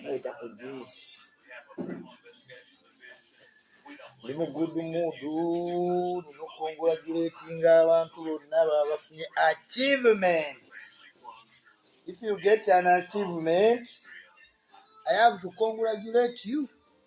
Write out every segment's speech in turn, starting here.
Naita ku juice. Ndi mu good mood. Nina okukongratulatinga abantu bonna babafunye achievement. If you get an achievement, I have to congratulate you.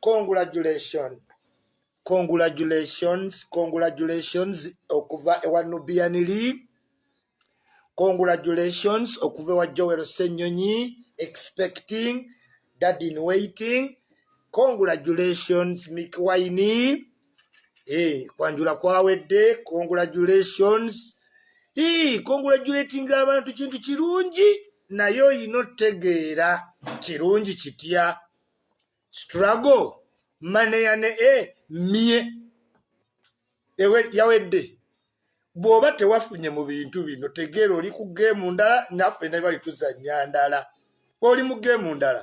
congratulation congratulations congratulations okuva ewa nubianili congratulations okuva ewa joel senyonyi expecting dad in waiting congratulations mikwaini eh, kwanjula kwawedde congratulations hey, congratulating abantu kintu kirungi naye oyina otegeera kirungi kitya struggle maneya ne e eh, mye yawedde bw'oba tewafunye mu bintu bino tegeera oli ku geemu ndala naffe ne bali tuzannya ndala oli mu geemu ndala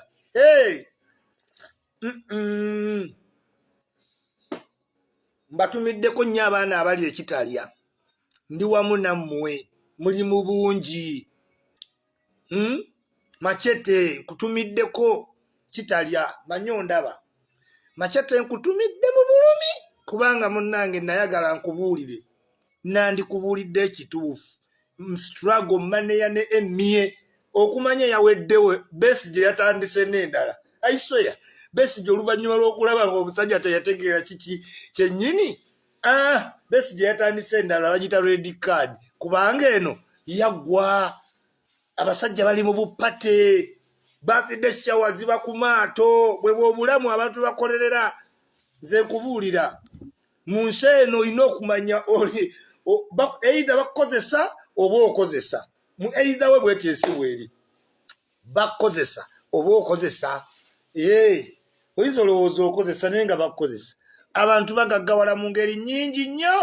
mbatumiddeko nnyo abaana abali ekitalya ndi wamu nammwe muli mu bungi hmm? macete nkutumiddeko kitalya manyo ndaba macete nkutumidde mu bulumi kubanga munnange nayagala nkubuulire nandikubuulidde ekituufu mstrago maneya ne emie okumanya yaweddewe besi gye yatandise n'endala aisweya besi gye oluvannyuma lw'okulaba nga omusajja teyategeera kiki kyennyini Ah, Besigye yatandise endala bagita red card kubanga eno yaggwa abasajja bali mu bupate bakidde shawa ziba ku maato bwebwe obulamu abantu bakolerera nze nkubuulira mu nsi eno olina okumanya oli eitha bakukozesa oba okozesa mu eitha we bwetyo ensi bweri bakukozesa oba okozesa ee oyinza olowooza okozesa naye nga bakukozesa abantu bagaggawala mu ngeri nnyingi nnyo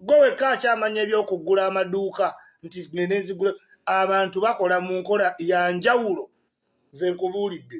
gwe wekka akyamanya ebyokuggula amaduuka nti nenezigula abantu bakola mu nkola ya njawulo nze nkubuulidde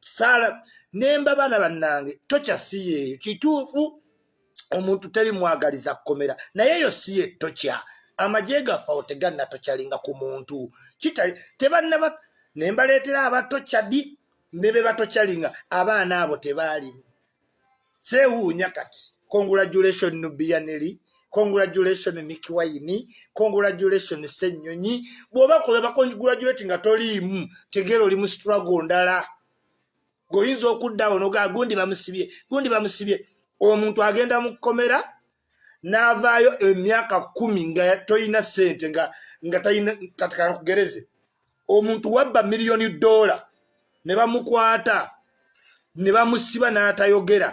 saala nemba baana bannange tokya si yeeyo kituufu omuntu teri mwagaliza kukomera naye eyo si ye tokya amagye gaffe awo teganna tokyalinga ku muntu kitali tebannaba ne mbaleetera abatokyadi ne be batokyalinga abaana abo tebaalimu sewuunya kati congratulation nubiyaneli congratulation mikiwayini congratulation senyonyi bwoba kuba bacongratulati nga toliimu tegeera oli mu strago ndala goyinza okuddawo noga gundi bamusibye gundi bamusibye omuntu agenda mu kkomera n'avaayo emyaka kumi nga tolina sente nga tatikakugereze omuntu wabba miliyoni dola ne bamukwata ne bamusiba n'atayogera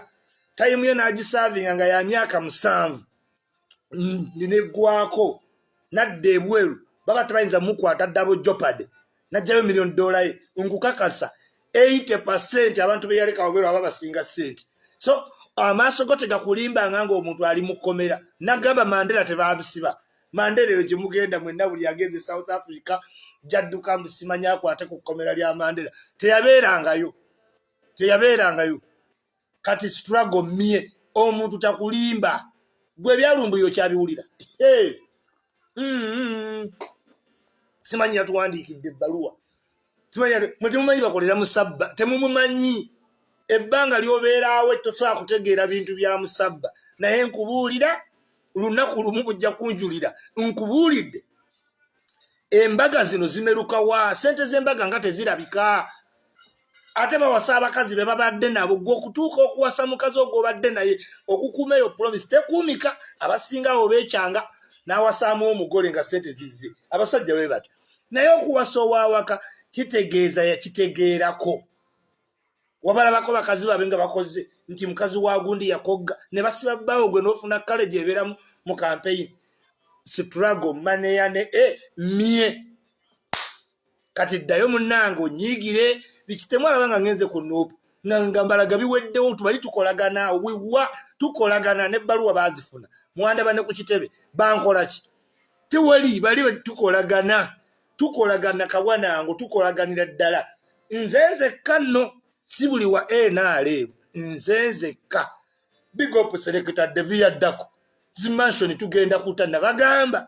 tayimu ye n'agisaavinga nga ya myaka musanvu neggwako nadda ebweru baba tebayinza mukwata dabo jopade najjayo million dollar ye nkukakasa 80 percent abantu beyaleka wabwero aba basinga sente so amaaso go tegakulimba nga nga omuntu ali mukomera nagamba mandela tebabisiba mandela eyo gyemugenda mwenna buli agenze south africa jadduka mbusimanya akwate ku kkomera lya mandela teyabeerangayo teyabeerangayo kati struggle mye omuntu takulimba gwe byalumbuyo kyabiwulira hey. mm-hmm. simanyi yatuwandiikidde ebbaluwa simanyi mwe temumanyi bakolera musabba temumumanyi ebbanga lyobeeraawo tosobola kutegeera bintu bya musabba naye nkubuulira lunaku lumu bujja kunjulira nkubuulidde embaga zino zimerukawa sente z'embaga nga tezirabika ate bawasa abakazi be babadde nabo gwe okutuuka okuwasa mukazi ogwobadde naye okukuuma eyo promise tekuumika abasingawo bekyanga n'awasaamu omugole nga sente zizze abasajja be batyo naye okuwasa owawaka kitegeeza yakitegeerako wabalabako bakazi babe nga bakoze nti mukazi wa gundi yakogga ne basiba bbaawo gwe n'ofuna kale gyebeeramu mu kampeyini sitrago maneya ne e mye kati ddayo munnange onyiigire bikitemu alaba nga ngenze ku nuupu nga nga mbalaga biweddewo tubali tukolagana wiwa tukolagana n'ebbaluwa baazifuna mwandaba ne ku kitebe bankola ki tewali bali tukolagana tukolagana kabwanango tukolaganira ddala nze nzekka nno si buli wa nrm nze nzekka bigop selekita devi yaddako zimansioni tugenda kuta nabagamba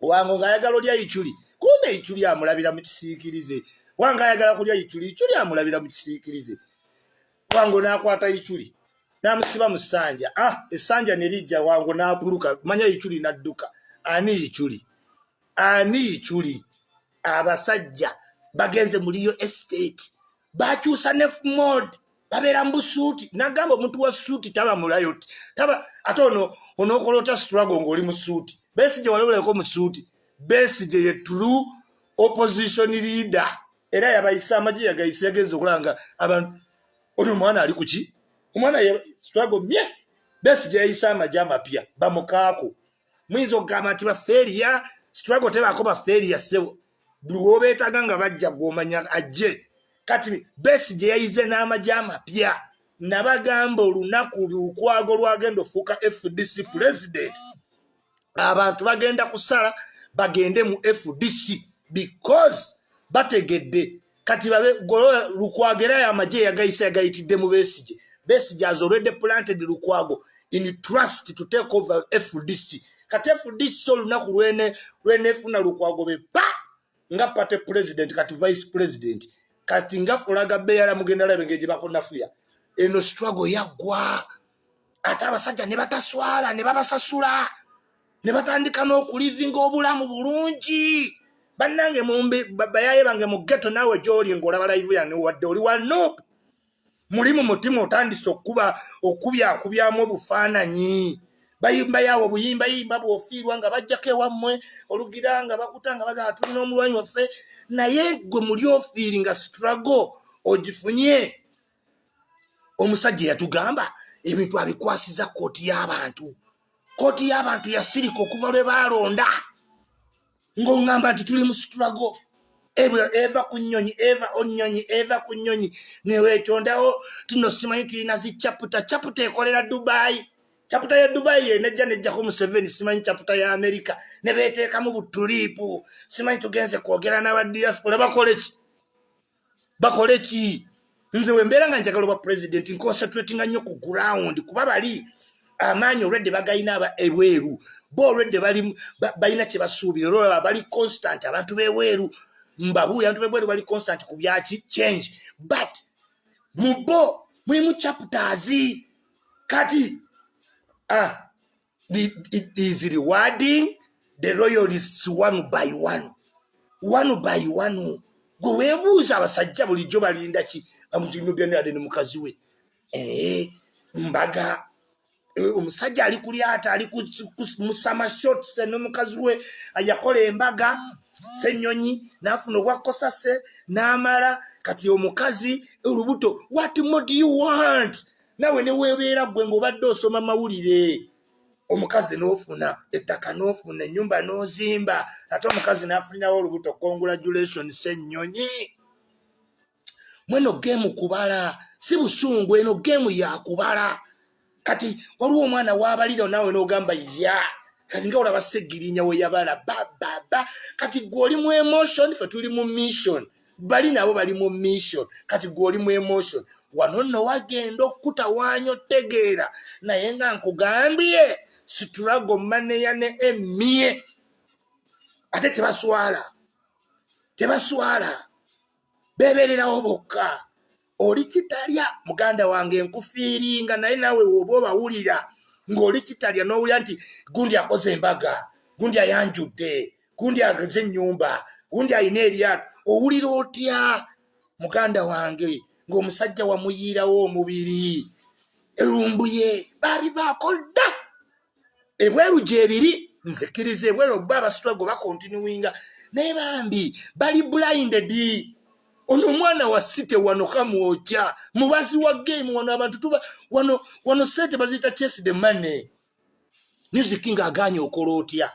wango ng'ayagala olya iculi kumbe iculi amulabira mu kisiikirize wange ayagala kulya iculi iculi amulabira mu kisiikirize wango n'akwata iculi n'amusiba mu ssanja ah essanja ne lijja wango n'abuluka manya iculi n'adduka ani iculi ani iculi abasajja bagenze muliyo estate bakyusa ne mod babeera mu busuuti nagamba omuntu wa suuti taba mulayoti taba ate ono onokola otya strago ngaoli mu suuti besigye walabuleko mu suuti besigye ye true opposition leader era yabayise amagye yagayise yagenza okulanga abantu ono omwana ali kuki omwana ye strago mye besigye yayise amagye amapya bamukaako muyinza okugamba nti bafeeriya situlago tebaako bafeeriya sebo buli wobeetaga nga bajja gwomanya ajje kati besi gye yayize n'amagye amapya nabagamba olunaku lukwago lwagenda ofuuka fdc pulezidenti abantu bagenda kusala bagende mu fdc because bategedde kati babe golola lukwago era ayo amagye yagayisa yagayitidde mu besigye besigye has already planted lukwago in trust to take over fdc kati fdc olunaku lwene lwenefuna lukwago be pa nga party president kati vice president kati nga fulaga beyala mugenda labe ngeje bakonafuya eno struggle yagwa ate abasajja ne bataswala ne babasasula ne batandika n'okulivinga obulamu bulungi bannange mumbi bayaye bange mu geto naawe gyoli ngaolaba layivu yange wadde oli wa nup muli mu mutima otandise okukuba okubyakubyamu obufaananyi bayimba yawo obuyimba yimba bwofiirwa nga bajjako ewammwe olugira nga bakuta nga bagaa tulina omulwanyi waffe naye gwe muli ofiiri nga strago ogifunye omusajja yatugamba ebintu abikwasiza kooti y'abantu kooti y'abantu yasirika okuva lwe baalonda ng'oŋŋamba nti tuli mu situlago eva ku nnyonyi eva onnyonyi eva ku nnyonyi neweetondawo tino simanyi tulina zi caputa caputa ekolera dubaayi caputa ya dubaayi yenejja nejjako museveni simanyi caputa ya amerika ne beeteekamu butuliipu simanyi tugenze kwogera n'aba diaspora bakoleki bakole ki nze wembeera nga njagala oba president nconcentratinga nnyo ku ground kuba bali amaanyi olwedde bagalina aba ebweru bo olwedde balina kyebasuubira olwolaba bali constant abantu bebweru mbabuuyi abantu bebweru bali constant ku byaki change but mu bo mulimu chapters kati ah the, it is rewarding the royalists one by one one by one gwe webuuza abasajja bulijjo balinda ki amutinobianade ne mukazi we ee eh, mbaga eh, omusajja ali ku lyata ali musama shots ne mukazi we yakola embaga senyonyi nafuna obwakosase n'amala kati omukazi olubuto what more do you want nawe newebeera gwe ngaobadde osoma mawulire omukazi nofuna ettaka nofuna enyumba nozimba ate omukazi nafunirawo olubuto congratulation senyonyi mweno gemu kubala si busungu eno gemu yakubala kati waliwo omwana wabaliro nawe nogamba ya kati nga olaba segirinya weyabala bababa kati gwe oli mu emotion fe tuli mu mission bali nabo bali mu mission kati gwoli mu emotion wano nno wagenda okukutawaanya otegeera naye nga nkugambye situlago maneya ne emie ate tebaswala tebaswala bebererawo bokka oli kitalya muganda wange nkufiiringa naye nawe woba obawulira ng'oli kitalya n'owulira nti gundi akoze embaga gundi ayanjudde gundi ageze ennyumba gundi alina eryato owulira otya muganda wange ng'omusajja wamuyiirawo omubiri elumbuye baabivaako dda ebweru gyebiri nzikiriza ebweru oba abasitwago bakontinuwinga naye bambi bali blinded ono omwana wa site wano kamwokya mubazi wa game wano abantu tuba wano wano sente baziyita chase the money music nga aganye okola otya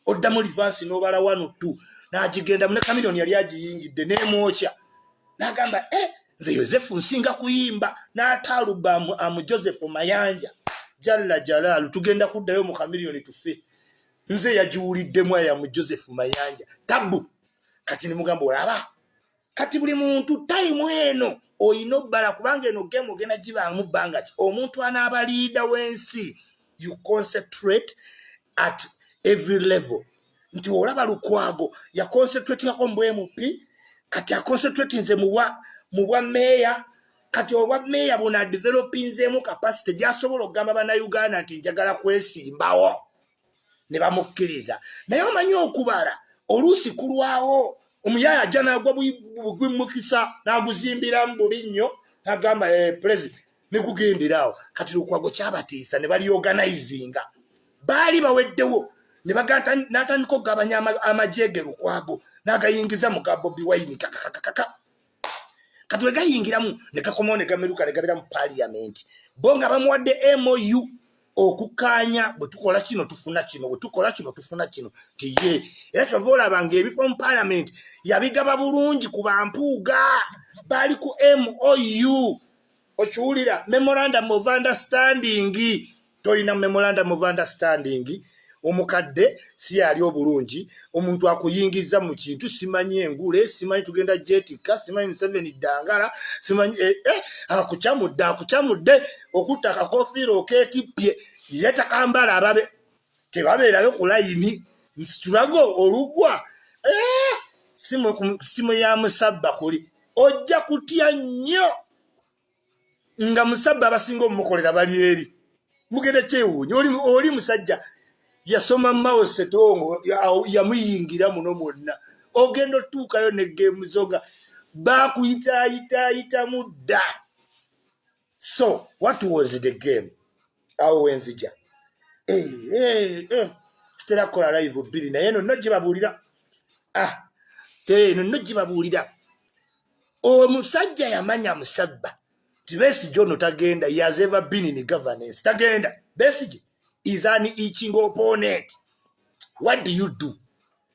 oddamu livansi nobala wano tu nagigendamu ne kamilioni yali agiyingidde nemwokya nagamba e eh, nze yosefu nsinga kuyimba n'ataaluba amu joseph mayanja jalla jalaalu tugenda kuddayo mu kamiliyoni tufe nze yagiwuliddemu aya mu joseph mayanja tabu kati nimugamba olaba kati buli muntu tayimu eno oyina obbala kubanga eno gemu ogenda gibaamu bbanga ki omuntu anaaba liida w'ensi you concentrate at every level nti olaba lukwago yakonsetwetingako mu bmp kati akonsetwetinze muwa mu bwa meeya kati obwa meeya buna developinzeemu kapasite gyasobola okugamba bannayuganda nti njagala kwesimbawo ne bamukkiriza naye omanyi okubala oluusi kulwawo omuyaye ajja nagwa bugwimukisa naguzimbiramu bubi nnyo nagamba eh, president nekugendera awo kati lukwago kyabatiisa ne baliorganizinga baali baweddewo ne bagata natandika okugabanya amajege lukwago nagayingiza muga bobi wayini kakakakaka kati wegayingiramu nekakomawo negameruka negabira mu paliamenti bo nga bamuwadde mou okukaanya bwe tukola kino tufuna kino bwe tukola kino tufuna kino tiye era kyova olaba nga ebifo mu paliamenti yabigaba bulungi ku bampuuga baali ku mou okiwulira memorandum of understanding tolina memorandum of understanding omukadde si yali obulungi omuntu akuyingiza mu kintu simanyi engule simanyi tugenda jetikka simanyi museveni ddangala simanyi eh, eh, akucamudde akucamudde okutta kakofiira oketippye yetakambala ababe tebabeerayo ku layini nsitulago olugwa eh, simu ya musabba kuli ojja kutya nnyo nga musabba abasinga omumukolera bali eri mugenda kyewuunya oli musajja yasoma mao setongo yamuyingira muno mwonna ogenda otuukayo negemuzo nga bakuyitayitayitamu dda so what was the game awo wenzija eh, eh, eh. kitera kukola live bbiri naye no no gibabuulira ah, no no gibabuulira omusajja yamanya musabba nti besigye ono tagenda yazeva bini ni governance tagenda besigye is an eaching opponent what do you do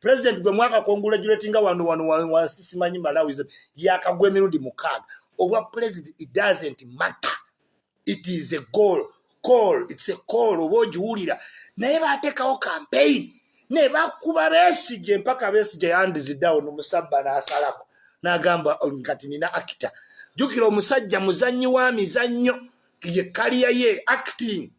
president gwe mwaka congratulatinga wano wano wansi simanyi malawi yakagwa emirundi mukaaga obwa president it doesn't matter it is a goal call it's a call oba ogiwulira naye batekawo campaign ne bakuba besije mpaka besije yandizidawo nomusabba nasalako nagamba kati nina akita jukira omusajja muzanyi wa mizannyo ye kaliya ye acting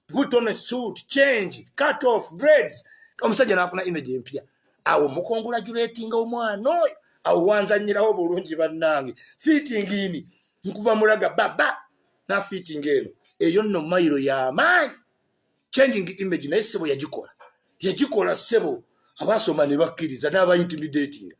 put on a suit change cut off dreads omusajja nafuna image empya awo mukongola julatinga omwana oyo awo wanzanyirawo bulungi bannange fitting in nkuva mulaga baba na fitting eno eyo nno mayiro yamaanyi changing image naye sebo yagikola yagikola sebo abasoma ne bakkiriza n'abaintimidating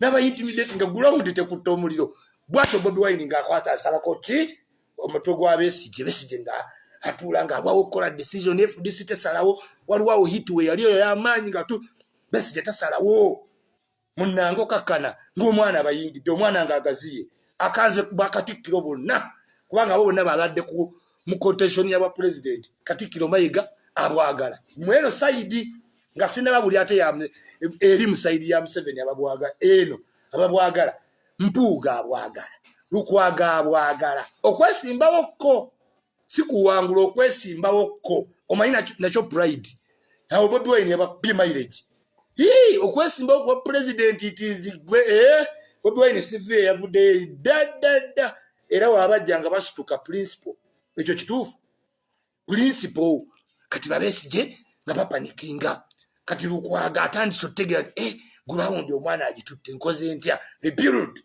n'abaintimidating gulawundi tekutta omuliro bwatyo bobi wine ng'akwata asalako ki omutwe gwa besigye besigye nga atuula nga alwawo okukola decision fdc tesalawo waliwo awo hit we yali eyo yamaanyi nga tu besigye tasalawo munange okakkana ngaomwana abayingidde omwana nga agaziye akanze bakatikkiro bonna kubanga abo bonna babadde ku mu contention yabwa president katikkiro mayiga abwagala mweno saidi nga sinaba buli ate eri musayidi ya museveni ababwaga eno ababwagala mpuuga abwagala lukwaga abwagala okwesimbawo kko sikuwangula okwesimbawo kko omanyi nakyo pride awo bobi wine yababye mileage ii okwesimbawo kuba president itizigwe e eh? bobi wine sivi eyavuddeyo daddadda era waabajja nga basituka principle ekyo kituufu principle kati babesije nga bapanikinga kati lukwaga atandise otegera eh ground omwana agitutte nkoze ntya rebuild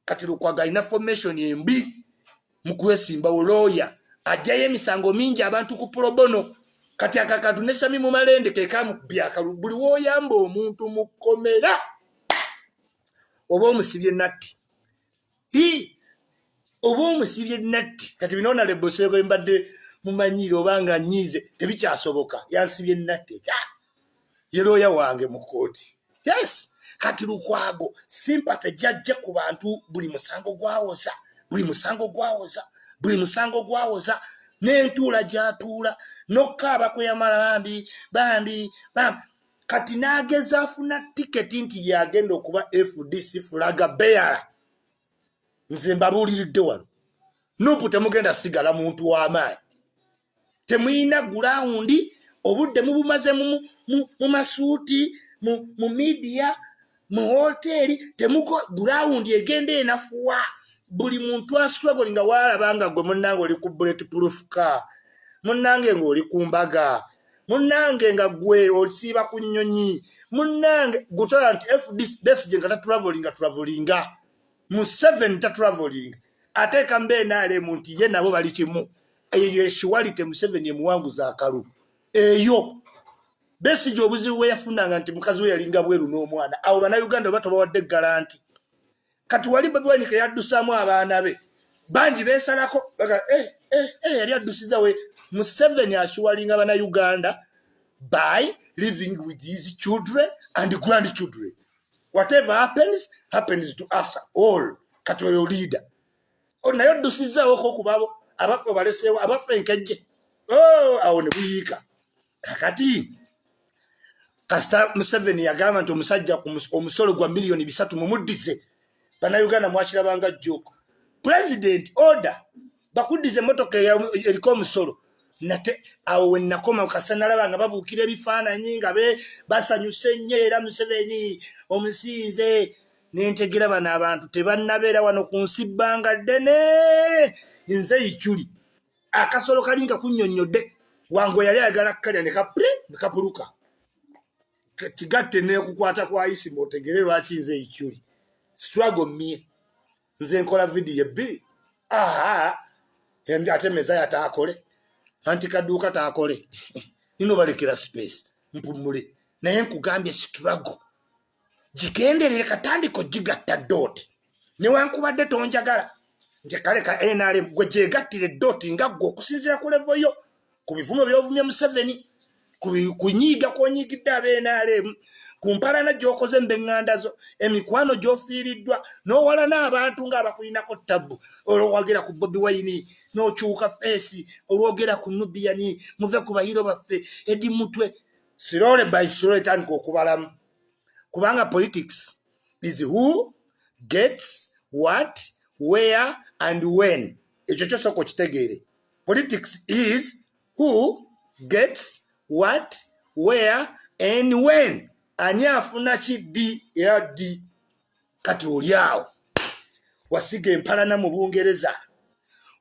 kati lukwaga ina formation embi mukwesimba oloya ajaye emisango mingi abantu ku probono kati akakatu ne sami mu malende ke kamu byaka buli woyamba omuntu mukomera obo musibye natti i oba omusibye natti kati binoona leboseko embadde mumanyiire oba nga nyiize tebikyasoboka yansibye natti ga ye looya wange mu kkooti yes kati lukwago simpate jajja ku bantu buli musango gwawoza buli musango gwawoza buli musango gwawoza n'entuula gyatuula nokkaaba kwe yamala bambi bambi bambi kati n'ageza afuna tiketi nti yagenda okuba fdc fulaga beyala nze mbabuuliridde wano nupu temugenda sigala muntu w'amaanyi temuyina gulawundi obudde mubumaze mu masuuti mu midiya mu hoteeri temuko gurawundi egenda enafuwa buli muntu astruggle nga waalaba nga gwe munnange oli ku bullet proof car munnange ng'oli ku mbaga munnange nga gwe osiiba ku nnyonyi munnange gutala nti fdc besige nga tatravolinga travolinga mu seven tatravolinga ateeka mbeenaalemu nti ye nabo bali kimu eyo yeshiwalite museveni emuwanguza akalu eyo Besigye obuzibu bwe yafunanga nti mukazi we yalinga bweru n'omwana awo bannayuganda oba tobawadde garanti kati wali bobi wine ke yaddusaamu abaana be bangi beesalako baga eh, eh, eh, yali addusiza we museveni akiwalinga bannayuganda by living with his children and grand children whatever happens happens to us all kati oyo liida oh, naye oddusizzaawoko okubabo abaffe obaleseewo abaffe enkejje oh, awo ne buyiika kakati kasita museveni yagamba nti omusajja omusolo gwa miliyoni bisatu mumuddize banauganda mwakirabanga jjoko president order bakuddiza emotoka eriko omusolo nate awo wenakoma kasa nalaba nga babuukira ebifaananyi nga be basanyuse nnyo era museveni omusinze nentegera bano abantu tebannabeera wano ku nsi bbanga ddene nze ikyuli akasolo kali nga kunyonnyodde wange yali ayagala kukalya ne kapule ne kapuluka kigatte nekukwata kwa isi mwotegere lwaki nze ekyuli strago mie nze nkola vidiyo ebbiri aha endi ate mezaya taakole anti kaduuka taakole nino balekera space mpumule naye nkugambye strago gigenderere katandika ogigatta dooti newankubadde tonjagala nti kale ka nrm gwe gyegattire dooti nga gwe okusinzira ku levo yo ku bivumo byovumye museveni kunyiiga kwonyiigidde aba nrm ku mpalana gyokoze mbeŋŋanda zo emikwano gyofiiriddwa n'owalana abantu ng'abakulinako tabbu olwowagira ku bobi wayini n'okyuka feesi olwogera ku nubiyani muve ku bayiro baffe edi mutwe slowly by slowly tandika okubalamu kubanga politics is who gets what where and when ekyo kyosooka okitegeere politics is who gets what where and when ani afuna ki ddi era ddi kati oli awo wasiga empalana mu bungereza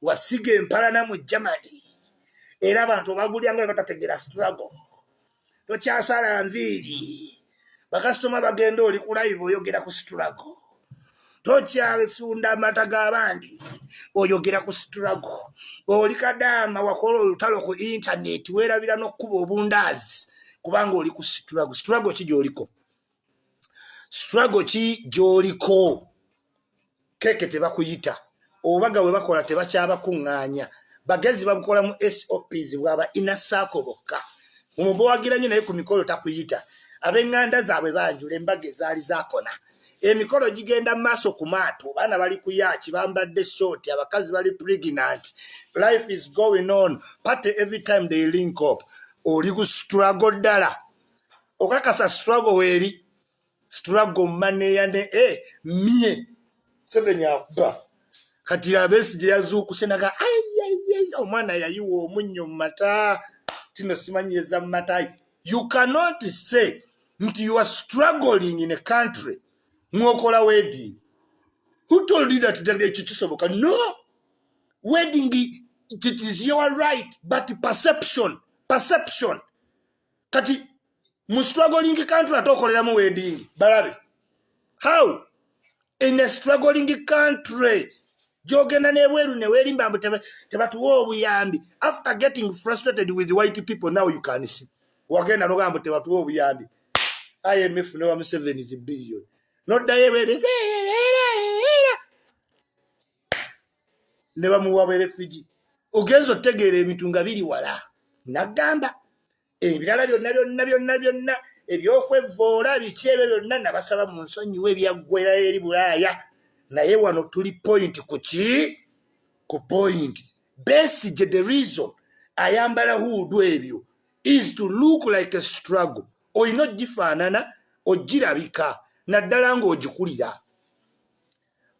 wasiga empalana mu germany era abantu obagulyanga batategera strago tokyasala nviiri bakasitoma bagenda oli ku live oyogera ku strago tokyasunda amata g'abandi oyogera ku strago oli kadaama wakola olutalo ku intaneti weerabira n'okukuba obundaazi kubanga oli ku strago strago ki gyoliko struggle ki gyoliko keke tebakuyita obubaga bwe bakola tebakyabakuŋŋaanya bagezi babukola mu sops bwaba inasaako bokka omubawagira nnyo naye ku mikolo takuyita ab'eŋŋanda zaabwe banjula embaga ezaali zakona emikolo gigenda mu maaso ku maato baana bali kuyaaki bambadde short abakazi bali pregnant life is going on party every time they link up oli ku struggle ddala okakasa struggle weri struggle maneya ne e eh, mie seveni akuba kati abesi gye yazuukuse naga ayayay omwana yayiwa omunnyo mu mata tino simanyi eza mu mata you cannot say nti you are struggling in a country mwokola wedding who told you that ekyo kisoboka no wedding it is your right but perception perception kati mu struggling country ate okoleramu wedding balabe how in a struggling country gyogenda nebweru newerimba mbu tebatuwa obuyambi after getting frustrated with white people now you can see wagenda nogaa mbu tebatuwa obuyambi imf newa museveni zi billion noddayo ebeereza ne bamuwa berefiji ogenza otegeera ebintu nga biri wala nagamba ebirala byonna byonna byonna byonna ebyokwevoola biki ebyo byonna nabasaba mu nsonyiwa ebyaggwera eri bulaaya naye wano tuli point ku ki ku point besigye the reason ayambala huudu ebyo is to look like a struggle olina ogifaanana ogirabika naddala ng'ogikulira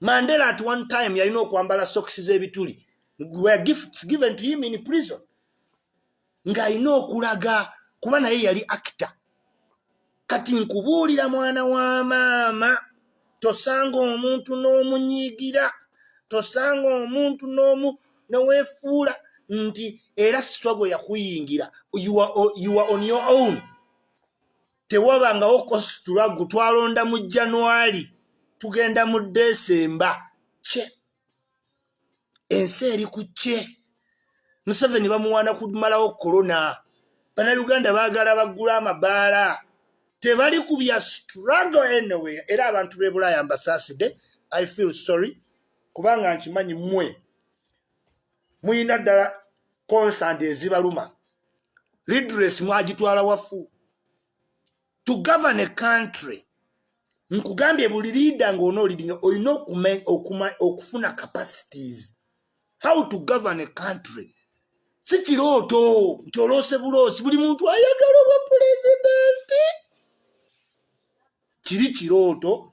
mandela at one time yalina okwambala sokisi z'ebituli were gifts given to him in prison ng'alina okulaga kuba naye yali akita kati nkubuulira mwana wa maama tosanga omuntu n'omunyiigira tosanga omuntu n'omu neweefuula nti era sitwago yakuyingira you are on your own tewabangawo kositulagu twalonda mu januari tugenda mu desemba kye ensi eri ku kye museveni bamuwaana kumalawo korona banauganda bagala baggula amabaala tebali ku bya struggle anyway era abantu bebulaaya mbasaaside i feel sorry kubanga nkimanyi mwe muyina ddala consand ezibaluma lidres mwagitwala wafu to govern a country nkugambye buli liida ngaonoolidinga olina okufuna capacities how to govern a country si kirooto nti oloose buloosi buli muntu ayagala obwa pulezidenti kiri kirooto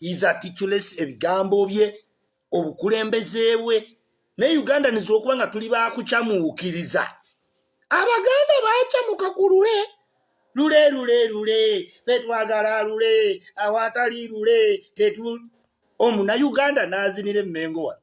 is articulate ebigambo bye obukulembeze bwe ne uganda niza okuba nga tuli bakucamuukiriza abaganda bacamuka ku lule lule lule lule betwagala lule awatali lule tetu omu na uganda nazinira emmengo wano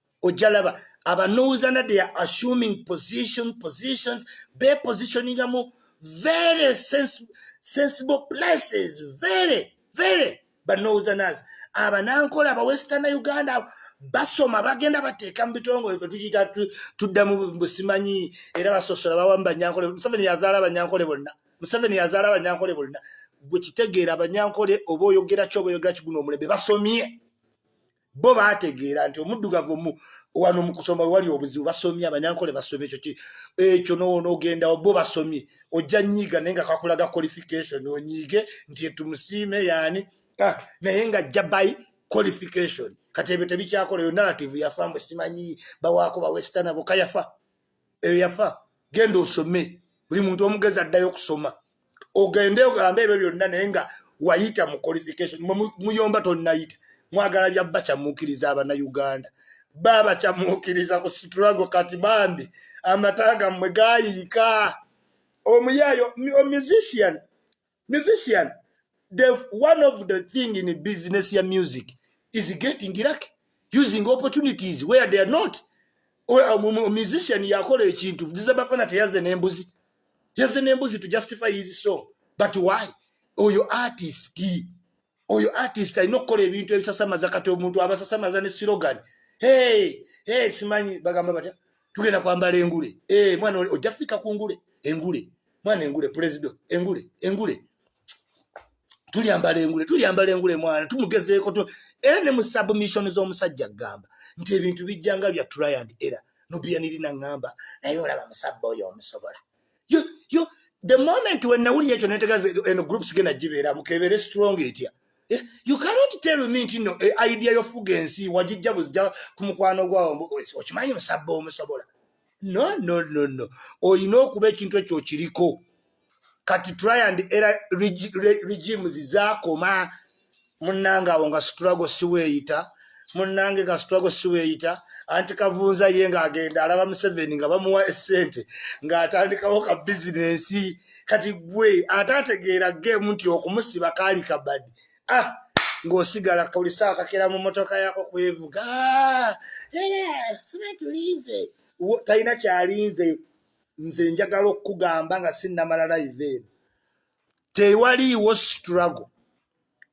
ojalaba abanuuza na they are assuming position positions be positioninga mu very sense, sensible places very very banoutherners abanankola abawestern uganda basoma bagenda bateeka mu bitongole fe tukita tudda mu busimanyi era basosola bawa mu banyankole museveni yazaala abanyankole bonna museveni yazaala abanyankole bonna gwekitegeera abanyankole oba oyogeraki oba oyogeraki guno omulembe basomye bo baategeera nti omuddugavu omu wano mu kusoma wewali obuzibu basomye abanyankole basomye ekyo ekyo nogendawo bo basomye ojja nyiiga naye nga kakulaga qualification onyiige nti etumusiime yaani ah, naye nga jja by qualification kati ebyo tebikyakola eyo narrative yafa mwe simanyi bawaako bawesitana boka yafa eyo yafa genda osome buli muntu omugezi addayo okusoma ogende ogambe ebyo byonna naye nga wayita mu qualification muyomba tonayita mwagala bya bakyamuukiriza abanauganda babakyamuukiriza ku situlago kati bambi amata gammwe gayiika omuyaayo musician musician the one of the thing in business ya music is getting lucky using opportunities where they are not musician yakola ekintu zizabafana teyaze nembuzi yaze nembuzi to justify his song but why oyo artist oyo artist alina okukola ebintu ebisasamaza kati omuntu abasasamaza ne silogan hey, hey, simanyi bagamba batya tugenda kwambala engule hey, eh, mwana ojja fika ku ngule engule mwana engule prezido engule engule tulyambala engule tulyambala engule mwana tumugezeeko tu era ne mu submission z'omusajja kugamba nti ebintu bijja nga bya try and error nobiyanirina ngamba naye olaba musabba oyo omusobola yo yo the moment when nawulira ekyo netegaza eno groups gena gibeera mukebeere strong etya eh, you cannot tell me nti no eh, idea yofuga ensi wagijja buzija ku mukwano gwawo okimanyi musabba omusobola no no no no olina okuba ekintu ekyo okiriko kati try and era regimes zakoma munanga awo nga situlago siweyita munange nga situlago siweyita anti kavunza ye nga agenda alaba museveni nga bamuwa esente ngaatandikawo ka bizinensi kati gwe ate ategeera gemu nti okumusiba kaali kabadi ah ng'osigala buli saawa kakera mu motoka yako kwevuga sibetulinze talina kyalinze nze njagala okukugamba nga sinnamala live eno tewaliiwo struggle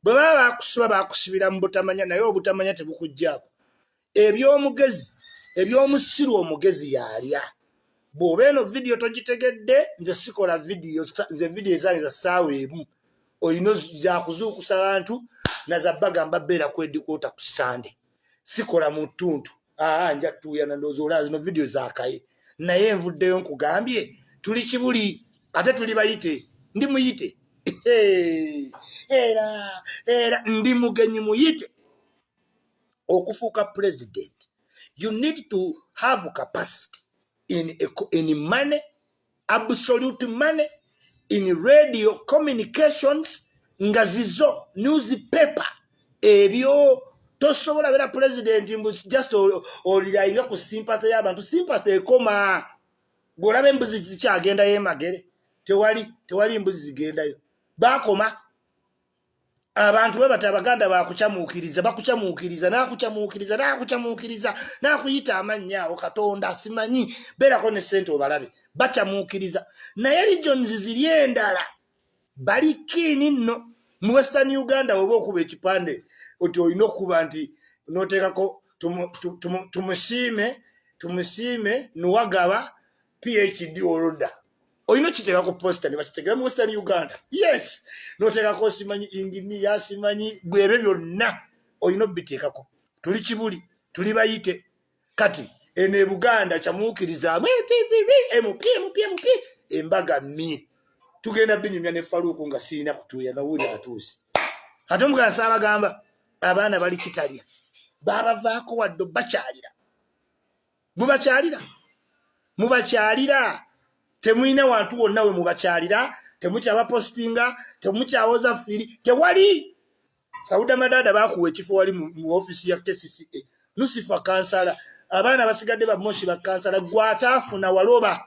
bwe baba bakusiba bakusibira mu butamanya naye obutamanya tebukuggyako eby'omugezi eby'omusiru omugezi yaalya bw'oba eno vidiyo togitegedde nze sikola vidiyo nze vidiyo ezange za ssaawa emu olina zakuzuukusa bantu nazabbagamba beera kwedikwota ku sande sikola mu ttuntu aa nja tuuyana ndowooza olaba zino vidiyo zakaye naye envuddeyo nkugambye tuli kibuli ate tuli bayite ndi muyite era era ndi mugenyi muyite okufuuka pulezidenti you need to have capacity in, in money absolute money in radio communications nga zizo newspaper ebyo tosobola bera president mbu just olirayinga ku sympathy yabantu sympathy ekoma gwolabe mbuzi zikyagenda yemagere tewali tewali mbuzi zigendayo bakoma abantu bwe bati abaganda bakucamuukiriza bakucamuukiriza nakucamuukiriza nakucamuukiriza nakuyita amannya awo katonda simanyi beerako ne ssente obalabe bacamuukiriza naye regions ziri endala bali kiini nno mu western uganda weba okuba ekipande oti olina okukuba nti noteekako tumusiime tumusiime nuwagaba phd oluda olina okiteeka ku posita nebakitegera mu western uganda yes noteekako osimanyi inginiya simanyi bwebyo byonna olina obiteekako tuli kibuli tuli bayite kati eno ebuganda kyamuukirizaamu mpmpmp embaga mi tugenda binyumya ne faluuku nga sirina kutuuya nawuli atuuse ate omugansi abagamba abaana bali kitalya babavaako wadde bakyalira mubakyalira mubakyalira temulina wantu wonna we mubakyalira temukyabapostinga temukyawoza firi tewali sauda madada bakuwa ekifo wali mu ofisi ya kcca nusifa kansala abaana basigadde bamoshi bakansala gwataafuna waloba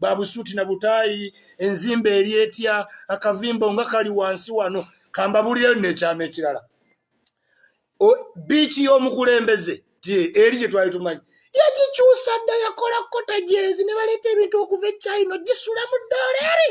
babusuuti na butaayi enzimba eri etya akavimbo nga kali wansi wano kambabulireyo nekyama ekirala biiki y'omukulembeze ti eri gye twali tumanyi yagikyusa dda yakola kota gyezi ne baleeta ebintu okuva e china gisula mu doola eri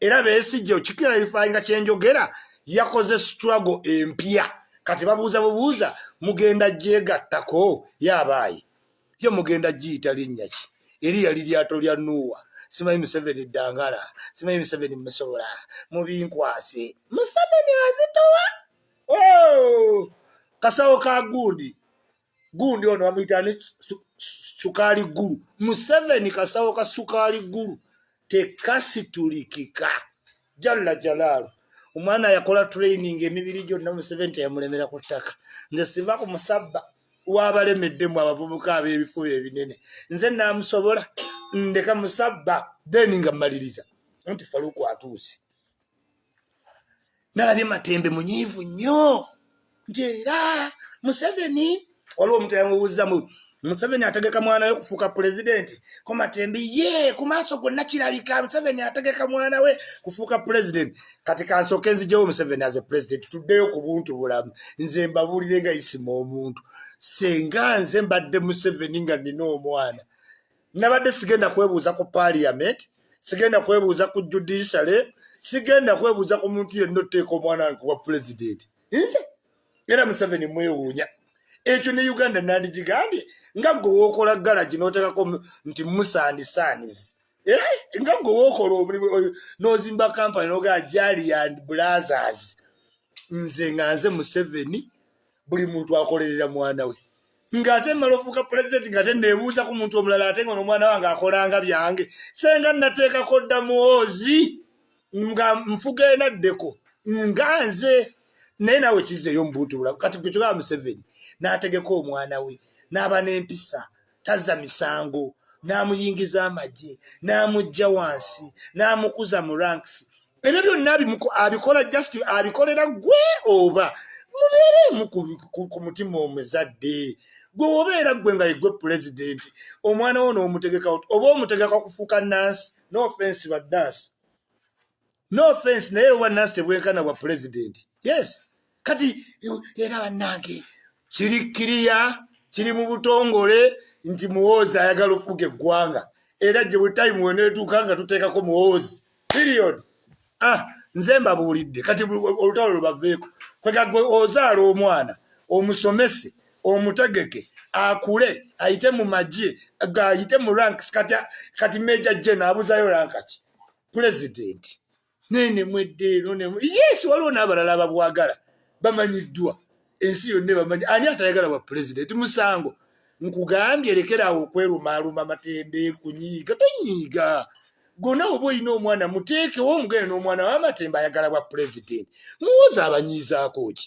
era besigye okikirayifayinga kyenjogera yakoze struggle empya kati babuuza bubuuza mugenda gyegattako yabaayi yo mugenda giyita linnya ki eri yali lyato lya nuuwa simanyi museveni dangala simanyi museveni musobola mubinkwase museveni azitowa oh! kasawo ka gundi gundi ono bamuyita ne sukaali ggulu museveni kasawo ka sukaali ggulu tekasitulikika jalla jalaalu omwana yakola training emibiri gyonna museveni teyamulemera ku ttaka nze siva ku musabba wabalemeddemu abavubuka ab'ebifuba ebinene nze naamusobola ndeka musabba then nga mmaliriza nti faluku atuuse nalabye matembe munyiivu nnyo nti era museveni waliwo omuntu yamubuuzzamu museveni ategeka mwana we kufuuka pulezidenti ko matembe ye ku maaso gonna kirabika museveni ategeka mwana we kufuuka pulezidenti kati kansooke nzijewo museveni aze pulezidenti tuddeyo ku buntu bulamu nze mbabuulire nga isima omuntu senga nze mbadde museveni nga nina omwana nabadde sigenda kwebuuza ku parliament sigenda kwebuuza ku judiciary sigenda kwebuuza ku muntu yenna otteeka omwana wange kuba president nze era museveni mwewuunya ekyo ne uganda nandigigambye nga gwe wokola galagi notekako nti musandi sanis eh, nga gwe wokola omulimu nozimba kampani nogaa jali and blazers nze nga nze museveni buli muntu akolerera mwana we ng'ate mmala ofuuka pulezidenti ng'ate neebuuza ku muntu omulala ate nga nomwana wange akolanga byange senga nateekako dda muwoozi nga nfuga enaddeko nga nze naye naawe kizeeyo mubuntu bulamu kati gwe kyogaa museveni n'ategeka omwana we n'aba n'empisa tazza misango n'amuyingiza amagye n'amujja wansi n'amukuza mu ranks ebyo byonna abikola just abikolera gwe oba mubeereemu ku mutima omuzadde gwe wobeera gwe nga yegwe pulezidenti omwana wo n'omutegeka oba omutegeka kufuuka nansi no offense ba dansi no offense naye oba nasi tebwenkana bwa pulezidenti yes kati era bannange kiri kiriya kiri mu butongole nti muwoozi ayagala ofuga eggwanga era gye butayimu weneetuuka nga tuteekako muwoozi period ah nze mbabuulidde kati olutalo lubaveeko kwegagwe ozaala omwana omusomese omutegeke akule ayite mu magye ayite mu ranks kati meja jena abuzayo rankaki pulezidenti naye nemweddeero yes waliwo n'abalala ababwagala bamanyiddwa ensi yonna ebamanyi ani atayagala bwa pulezidenti musango nkugambye lekeraawo okwerumaaluma matembe kunyiiga tonyiiga gona oba olina omwana muteekewo omugende n'omwana wamatembe ayagala bwa pulezidenti muwoza abanyiizaako ki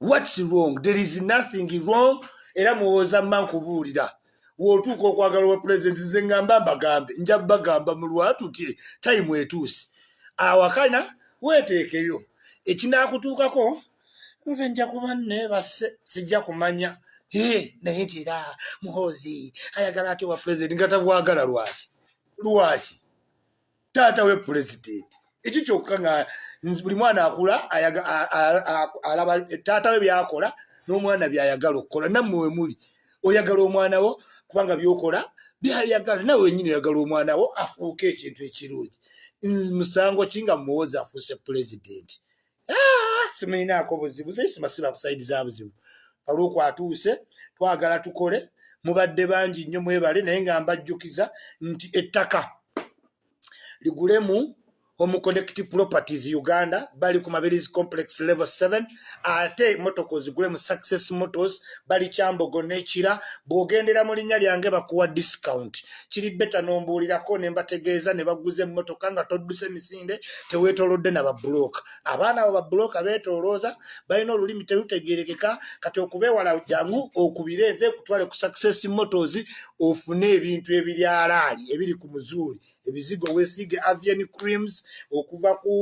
whats wrong there is nothing wrong era muwooza mma nkubuulira wotuuka okwagala obwa pulezidenti nze ngamba mbagambe nja bagamba mu lwatu ti tayimu etuusi awakana weteekeyo ekinakutuukako nze nja kuba nebase sijja kumanya naye nti era muhoozi ayagala ati obwa pulezidenti nga tabwagala lwaki lwaki taata we pulezidenti ekyo kyokka nga buli mwana akula alaba taata we byakola n'omwana byayagala okukola nammwe we muli oyagala omwana wo kubanga byokola byayagala nawe wenyini oyagala omwana wo afuuke ekintu ekirungi musango ki nga muwozi afuuse pulezidenti ah, simulinaako buzibu zesimasira ku saidi za buzibu olwoku atuuse twagala tukole mubadde bangi nnyo mwebale naye nga mbajjukiza nti ettaka ligulemu omuconnect properties uganda bali ku mabirizi complex level 7 ate emotoka ozigule mu success motos bali kyambogo nekira bwogendera mu linnya lyange bakuwa discount kiri beta nombuulirako ne mbategeeza ne baguza emmotoka nga todduse misinde teweetolodde na babbulooka abaana abo babbulooka beetoolooza balina olulimi terutegeerekeka kati okubeewala jangu okubire nze kutwale ku success motos ofune ebintu ebiryalaali ebiri ku muzuuli ebizigo weesiige avian creams okuva ku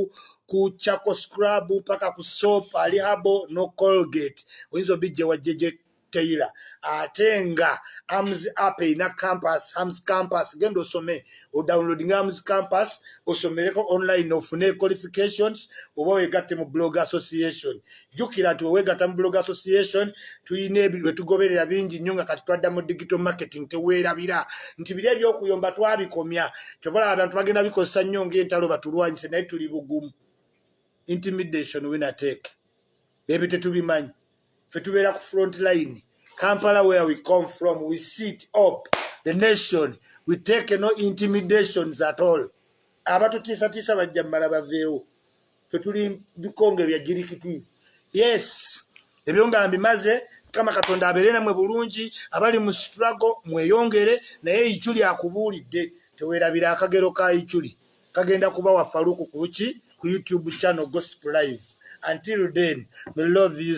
ku chaco scrub mpaka ku soap alihabo no colgate oyinza obijja wajjeje Taylor ate nga arms up ina campus arms campus genda osome o downloading arms campus osomereko online ofune qualifications oba wegatte mu blog association jukira nti wewegatta mu blog association tulina ebiwetugoberera bingi nnyo nga kati twadda mu digital marketing teweerabira nti biri ebyokuyomba twabikomya kyovala abantu bagenda bikozesa nnyo ngaentalo batulwanyise naye tuli bugumu intimidation winateke ebyo tetubimanyi fe tubeera ku front line kampala where we come from we sit up the nation we take no intimidations at all abatutiisatiisa bajja mumala baveewo fetuli bikonge bya jirikitwi yes ebyo nga mbimaze mukama katonda abeere namwe bulungi abali mu strago mweyongere naye icu lyakubuulidde tewerabira akagero ka iculi kagenda kubawa faluku kuki ku YouTube channel gossip live until then me love you.